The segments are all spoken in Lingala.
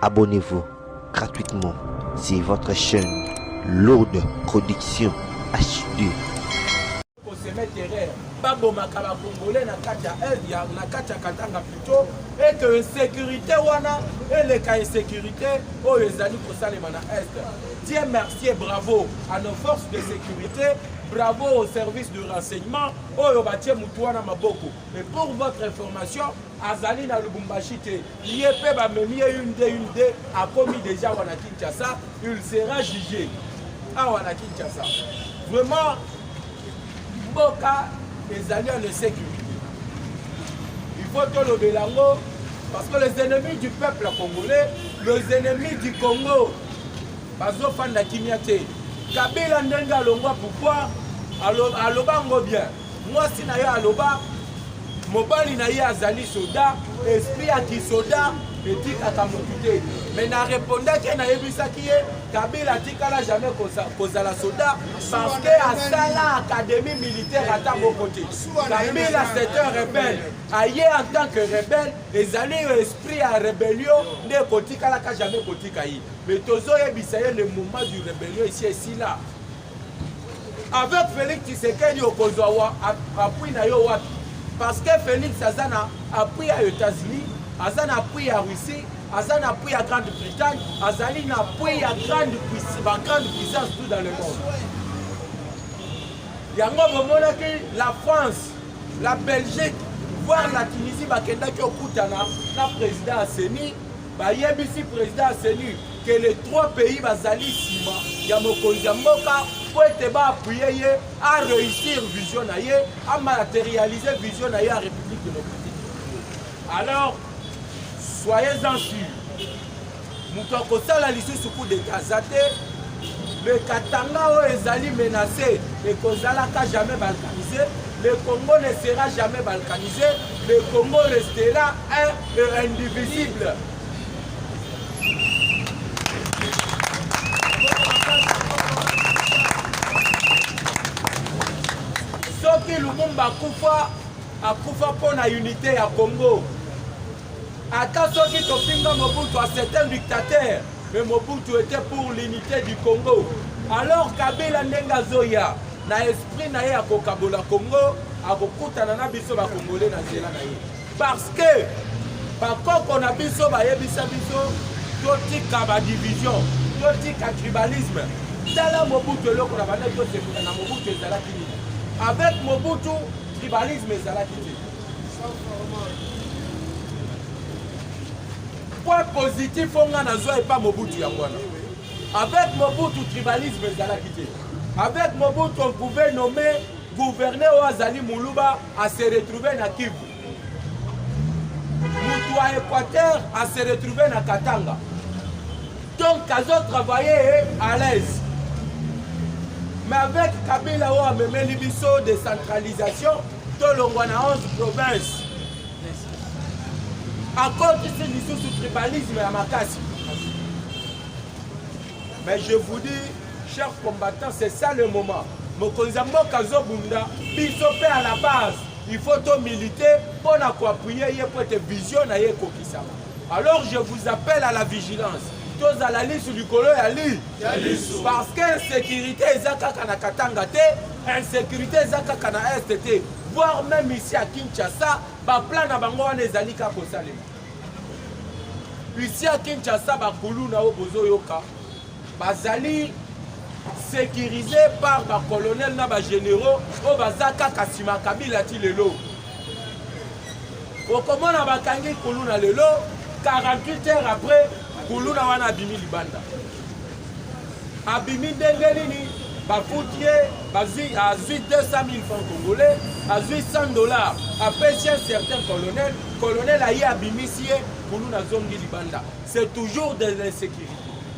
Abonnez-vous gratuitement sur votre chaîne Lourde Production HD. babomaka bakongole na kati ya eve ya na kati ya katanga plutôt ete insécurité wana eleka insécurité oyo ezali kosalema na est dieu mercier bravo à nos forces de sécurité bravo au service de renseignement oyo batie motu wana maboko Mais pour votre information, azali na Lubumbashi te. Ye pe ba memi ye une de une de akomi déjà wana Kinshasa, il sera jugé. Ah wana Kinshasa. Vraiment mboka ezali en sécurité. Il faut to lobela ngo parce que les ennemis du peuple congolais, les ennemis du Congo bazo fanda kimia te. Kabila ndenge alongwa pouvoir aloba ngo bien. Mwasi na ye aloba mobali na ye azali soda, esprit ya kisoda etikaka motu te. Me na repondaki ye, nayebisaki ye Kabila atikala jamais kozala soda parce que asala académie militaire ata moko te. Kabila c'est un rebelle. Aye en tant que rebelle ezali yo esprit ya rébellion nde ekotikalaka jamais kotika ye. Mais tozoyebisa ye le moment du rébellion esi esila. avec Felix Tshisekedi okozwa wa appui na yo wapi parce que Felix aza na appui ya États-Unis aza na appui ya Russie aza na appui ya Grande-Bretagne azali na appui ya grande ba grande puissance tout dans le monde yango bomonaki la France la Belgique voir la Tunisie bakendaki okutana na président ya CENI Bayebisi president ya CENI que les trois pays bazali nsima ya mokonzi ya mboka mpo ete baappuye ye a réussir vision na ye a matérialiser vision na ye ya république démocratique alors soyez en sur moto akosala lisusu coup d'état aza te le katanga oyo ezali menacé ekozalaka jamais balkanisé le congo ne sera jamais balkanisé le congo restera un et indivisible. soki lumumba akufa akufa mpo na unité ya congo ata soki tofinga mobutu a c'est un dictateur mais mobutu était pour l'unité du congo alors kabila ndenge azoya na esprit na ye ya kokabola congo akokutana na biso bakongole na nzela na ye Parce que bakoko na biso bayebisa biso totika ba division, totika tribalisme. Tala Mobutu eloko na banda tosepela na Mobutu ezalaki nini? Avec Mobutu tribalisme ezalaki te. Point positif oyo ngai nazwa epa Mobutu yango wana. Avec Mobutu tribalisme ezalaki te. Avec Mobutu on pouvait nommer Gouverneur oyo azali muluba a se retrouver na Kivu. Mutu ya Equateur a se retrouver na Katanga. Donc azo travailler à l'aise. Mais avec Kabila oyo amemeli biso décentralisation tolongwa na 11 provinces. Akotisi lisusu tribalisme ya makasi. Mais je vous dis Cher combattant, c'est ça le moment. Mokonzi ya mboka azobunda biso mpe à la base il faut to milite mpo na koappuye ye mpo ete vision na ye ekokisama alors je vous appelle à la vigilance tozala lisu likolo ya li parce que insécurité eza kaka na katanga te insécurité eza kaka na est te voire même ici à kinshasa baplan na bango wana ezali kaka kosalema ici à kinshasa bakuluna oyo bozoyoka bazali securise par ba colonel na ba généraux oyo baza kaka nsima kabila ti lelo okomona bakangi kuluna lelo 48 heures après kuluna wana abimi libanda abimi ndenge nini bafuti ye azwi 200 000 francs congolais azwi 100 dollars apesi un certain colonel colonel aye abimisi ye kuluna azongi libanda C'est toujours de l'insécurité.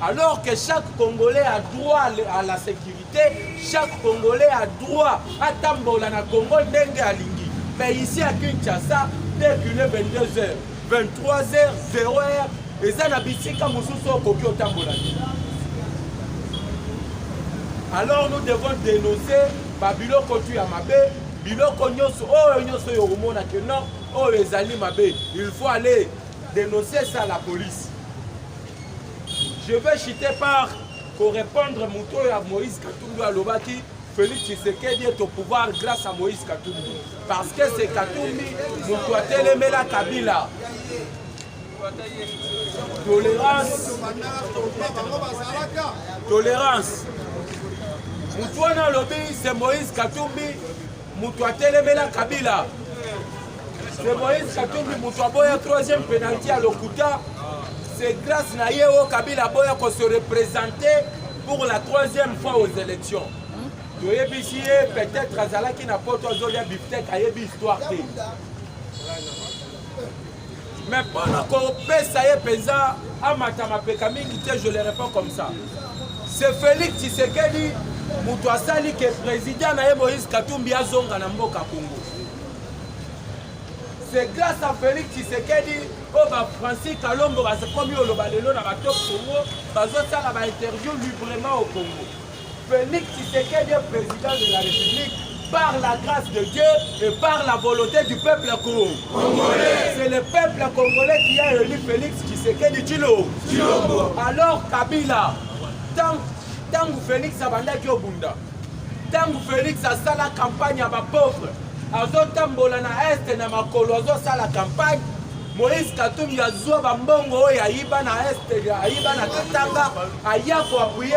Alors que chaque Congolais a droit à la sécurité, chaque Congolais a droit à Tambola na Congo Dengue Alingi. Mais ici à Kinshasa, dès qu'il est 22h, 23h, 0h, et ça n'a bisika mosusu okoki otambola alors nous devons dénoncer babiloko tu ya mabe biloko nyonso oyo nyonso oyo okomona ke non oyo ezali mabe il faut aller Dénoncer ça à la police. Je vais chiter par korepondre moto oyo ya moïse katumbi alobaki félix tshisekedi est au pouvoir grâce à moïse katumbi parce que c'est katumbi moto atelemela kabila tolérance tolérance moto wana alobi c'est moïse katumbi moto atelemela kabila se moïse katumbi moto aboya troisième penalti ya lokuta se grâce na ye oyo kabila aboya ko se représente pour la troisième fois aux élections toyebisi ye peut-être azalaki na poto azolia biftek ayebi histoire te mais mpo na kopesa ye mpenza amata mapeka mingi te je le réponds comme ça c'est félix tshisekedi moto asali ke président na ye moïse katumbi azonga na mboka congo c'est grâce à félix tshisekedi oyo oh, bafrancis kalombo bakomi oloba lelo na batop congo bazosala bainterview librement au congo Felix Tshisekedi est président de la République par la grâce de Dieu et par la volonté du peuple congolais. C'est le peuple congolais qui a élu Félix Tshisekedi Tshilombo. Alors Kabila, tant que Félix abandaki obunda, tant que Félix a fait la campagne à ma pauvre, azotambola na est na makolo la campagne moïse katumbi azwa bambongo oyo ayiba na est ayiba na katanga aya koapuye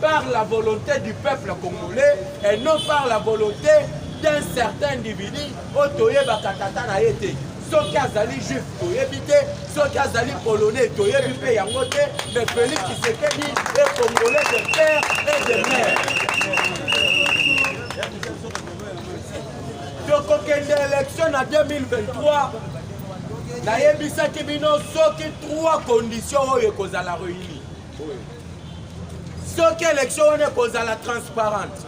par la volonté du peuple congolais et non par la volonté d'un certain individu oyo toyebaka tata na ye te soki azali juif toyebi te soki azali polonais toyebi mpe yango te mais félix kisekedi e congolais de père et de mère tokokende élection na 2023 nayebisaki bino soki trois conditions oyo ekozala réuni soki élection wana ekozala transparente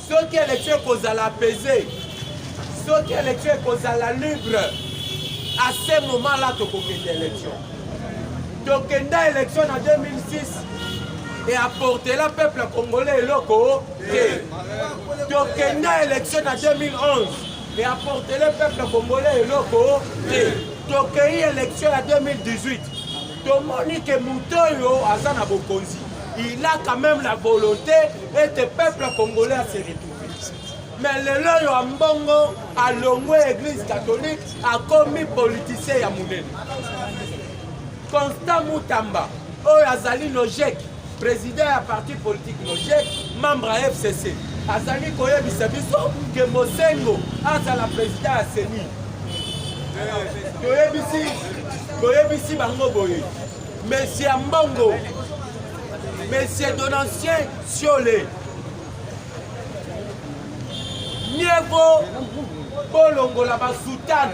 soki élection ekozala apaisée soki élection ekozala libre à ce moment là tokokende élection tokenda élection na 2006 et apportela peuple congolais eloko te tokenda élection na 2011 et apportele peuple congolais eloko te tokei élection ya 2018 tomoni ke moto oyo aza na bokonzi il a quand même la volonté ete peuple congolais ase retrouve mais lelo oyo ya mbongo alongwe église catholique akomi politicien ya monene constant mutamba oyo azali logique President ya parti politique Mojek, membre ya FCC, azali koyebisa biso ke Mosengo azala president ya CENI. Toyebisi toyebisi bango boye, Monsieur Mbongo, Monsieur Donatien Siole, mieux vaut bolongola basutane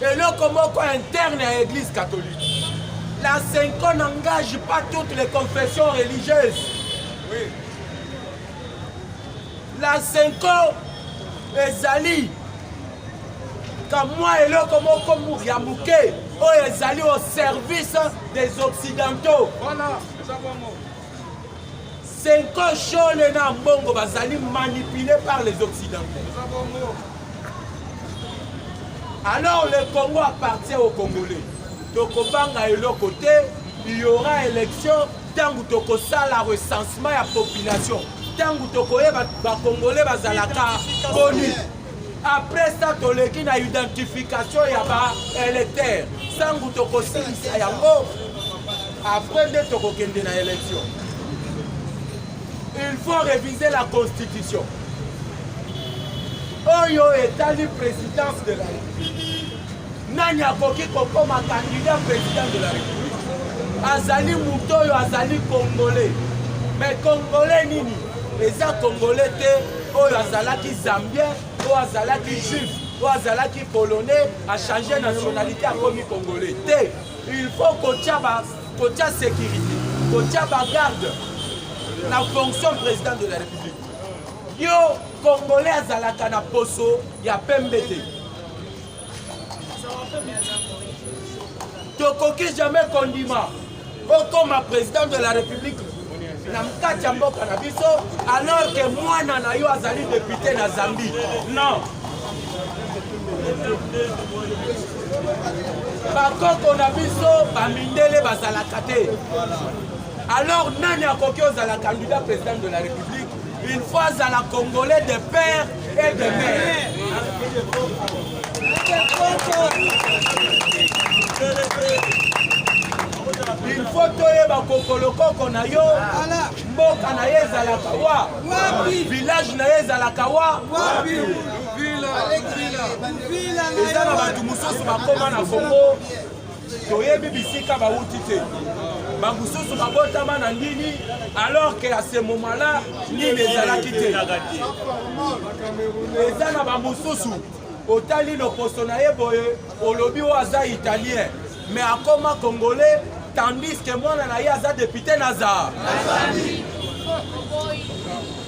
eloko moko interne ya église catholique la cinco n'engage pas toutes les confessions religieuses oui. la cinco ezali kamwa eloko moko ya moke oyo ezali au service des occidentaux voilà. Senko Shole na Mbongo bazali manipulés par les Occidentaux. Alors le Congo appartient aux Congolais. Tokobanga eloko te, il y aura élection ntango tokosala recensement ya population ntango tokoyeba bakongole bazalaka boni Après ça toleki na identification ya ba électeurs sangu tokosilisa yango après nde tokokende na élection il faut réviser la constitution oyo etali présidence de la république Nani akoki kokoma candidat president de la République? Azali moto oyo azali congolais. Mais congolais nini? Eza congolais te oyo azalaki zambien, oyo azalaki juif, oyo azalaki polonais, a changer nationalité akomi congolais te. Il faut kotia ba kotia sécurité, kotia ba garde na fonction président de la République. Yo congolais azalaka na poso ya pembe te. tokoki jamais kondima okoma président de la république na mkati ya mboka na biso alors que mwana na yo azali député na zambie non bakoko na biso bamindele bazalaka te alors nani akoki ozala candidat président de la république une fois azala congolais de père ilfo toyeba kokolokoko na yo mboka na ye ezalaka wa village na ye ezalaka wa eza na bato mosusu bakoma na kongo toyebi bisika bauti te bamosusu babotama na ndini alors que à ce moment là ndini ezalaki te eza na bamosusu otali loposo na ye boye olobi oyo aza italien mais akoma congolais tandis que mwana na ye aza depute na zar